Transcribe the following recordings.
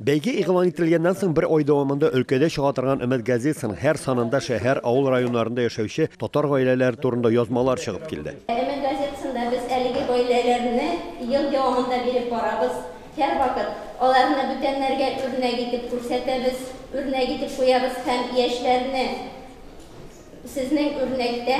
Бәйге игълан ителгәннән соң бер ай дәвамында өлкәдә чыга торган Өмет газетасының һәр санында шәһәр, авыл районнарында яшәүче татар гаиләләре турында язмалар чыгып килде. Өмет газетасында без әлеге гаиләләрне ел дәвамында биреп барабыз. Һәрвакыт аларны бүтәннәргә үрнәк итеп күрсәтәбез, үрнәк итеп куябыз һәм яшьләрне, Сезнең үрнәктә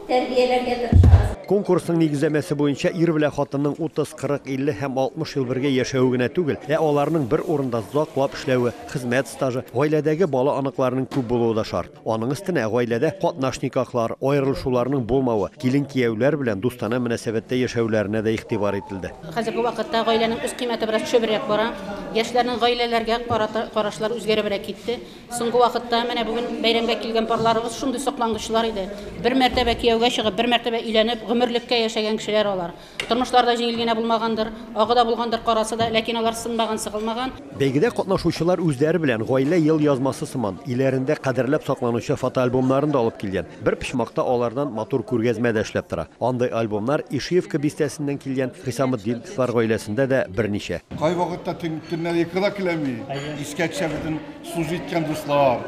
тәрбияләргә тырышабыз. Конкурсның нигезләмәсе буенча ир белән хатынның 30, 40, 50 һәм 60 ел бергә яшәве генә түгел, ә аларның бер урында зак лап эшләве, хезмәт стажы, гаиләдәге бала-оныкларының күп булуы да шарт. Аның өстенә гаиләдә катнаш никахлар, аерылышуларның булмавы, килен-кияүләр белән дустанә мөнәсәбәттә яшәүләренә дә игътибар ителде. Хәзерге вакытта гаиләнең үз кыйммәте бераз төшебрәк бара. Яшьләрнең гаиләләргә карата карашлары үзгәребрәк китте. Соңгы вакытта менә бүген бәйрәмгә килгән парларыбыз шундый соклангычлар иде. Бер мәртәбә кияүгә чыгып, бер мәртәбә өйләнеп, гомерлеккә яшәгән кешеләр алар. Тормышлары да җиңел генә булмагандыр, агы да булгандыр карасы да, ләкин алар сынмаган, сыгылмаган. Бәйгедә катнашучылар үзләре белән гаилә елъязмасы сыман, өйләрендә кадерләп сакланучы фотоальбомнарын да алып килгән. Бер почмакта алардан матур күргәзмә дә эшләп тора. Андый альбомнар Ишиевка бистәсеннән килгән Хисаметдиновлар гаиләсендә дә берничә. Кайвакытта төннәр йокы да килми, искә төшә бөтен. Су җиткән дуслар,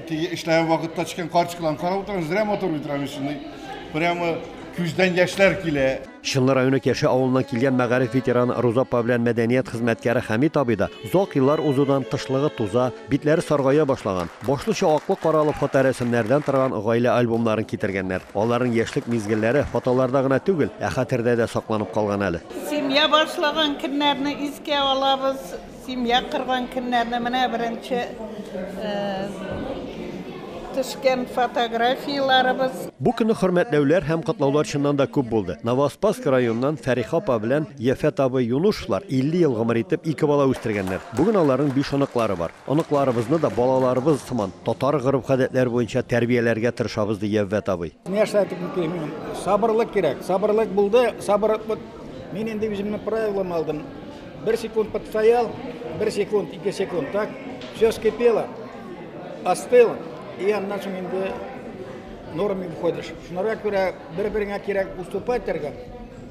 теге эшләгән вакытта төшкән карточкаларны карап утырам, зря матур бит Рамисны. Прямо күздән яшьләр килә. Чынлы районы Кәшә авылыннан килгән мәгариф ветераны Руза апа белән мәдәният хезмәткәре Хәмит абый да озак еллар узудан тышлыгы туза, битләре саргая башлаган, башлыча аклы-каралы фоторәсемнәрдән торган гаилә альбомнарын китергәннәр. Аларның яшьлек мизгелләре фотоларда гына түгел, ә хәтердә дә сакланып калган әле. Семья башлаган көннәрне искә алабыз, Семья корган көннәрне менә беренче төшкән фотографияләребез. Бу көнне хөрмәтләүләр һәм котлаулар чыннан да күп булды. Новоспаск районыннан Фәриха апа белән Яфәт абый Юнушевлар 50 ел гомер итеп, ике бала үстергәннәр. Бүген аларның биш оныклары бар. Оныкларыбызны да балаларыбыз сыман, татар гореф-гадәтләре буенча тәрбияләргә тырышабыз, ди Яввәт абый. Нәрсә әйтеп бетерим? Сабырлык кирәк. Сабырлык булды. Сабыр, вот, мин инде үземнең правилам алдым. Бер секунд подстоял, бер секунд, ике секунд, так? Все скипело, остыло, и аннан соң инде нормы входишь. Шунара күрә бер-береңә кирәк уступать итәргә,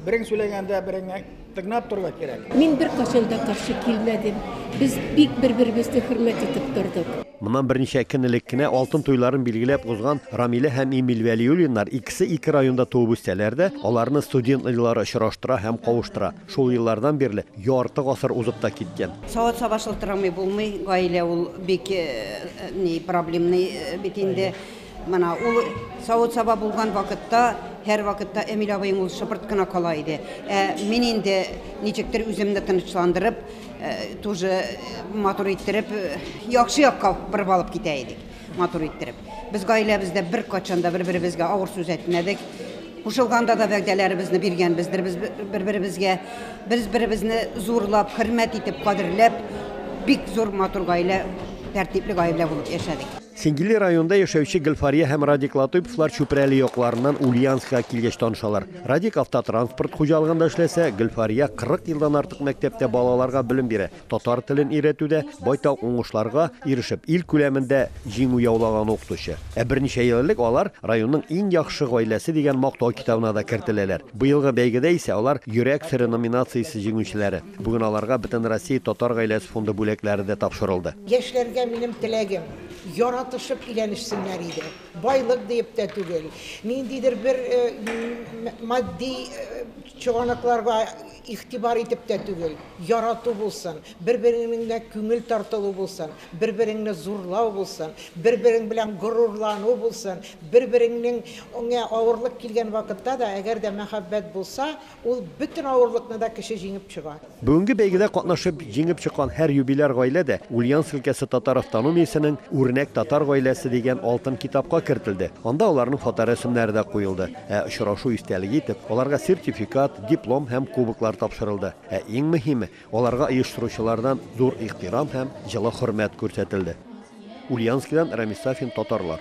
берең сөйләгәндә береңә тыңлап торырга кирәк. Мин бер кашын да каршы килмәдем. Без бик бер-беребезне хөрмәт итеп тордык. Моннан берничә көн элек кенә алтын туйларын билгеләп узган Рамилә һәм Эмиль Вәлиуллиннар икесе ике районда туып үссәләр дә, аларны студент еллары очраштыра һәм кавыштыра. Шул еллардан бирле ярты гасыр узып та киткән. Савыт саба шылтырамый булмый, гаилә ул бик ни проблемный бит инде. Менә ул савыт саба булган вакытта һәрвакытта Эмиль абыең ул шыпырт кына кала иде. Ә мин инде ничектер үземне тынычландырып, тоже матур иттереп, яхшы якка борып алып китә идек. Матур иттереп. Без гаиләбездә беркайчан да бер-беребезгә авыр сүз әйтмәдек. Кушылганда да вәгъдәләребезне биргәнбездер. Без бер-беребезгә бер-беребезне зурлап, хөрмәт итеп, кадерләп, бик зур матур гаилә, тәртипле гаилә булып яшәдек. Сингели районында яшәүче Гөлфария һәм Радик Латыйповлар Чүпрәле якларыннан Ульяновскига килгәч танышалар. Радик автотранспорт хуҗалыгында эшләсә, Гөлфария 40 елдан артык мәктәптә балаларга белем бирә. Татар телен өйрәтүдә байтак уңышларга ирешеп, ил күләмендә җиңү яулаган укытучы. Ә берничә ел элек алар районның иң яхшы гаиләсе дигән мактау китабына да кертеләләр. Быелгы бәйгедә исә алар Йөрәк сере номинациясе җиңүчеләре. Бүген аларга Бөтенроссия татар гаиләсе фонды бүләкләре дә тапшырылды. Яшьләргә минем теләгем, яратышып өйләнешсеннәр иде. Байлык диеп тә түгел, ниндидер бер матди чыганакларга Игътибар итеп тә түгел, ярату булсын, бер-береңнеңгә күңел тартылу булсын, бер-береңне зурлау булсын, бер-берең белән горурлану булсын, бер-береңнеңгә авырлык килгән вакытта да, әгәр дә мәхәббәт булса, ул бөтен авырлыкны да кеше җиңеп чыга. Бүгенге бәйгедә катнашып, җиңеп чыккан һәр юбиляр гаилә дә Ульяновск өлкәсе татар автономиясенең Үрнәк татар гаиләсе дигән алтын китапка кертелде, анда аларның фоторәсемнәре дә куелды. Ә очрашу истәлеге итеп, аларга сертификат, диплом һәм кубоклар тапшырылды. Ә иң мөһиме, аларга оештыручылардан зур ихтирам һәм җылы хөрмәт күрсәтелде. Ульяновскидан Рамис Сафин, Татарлар.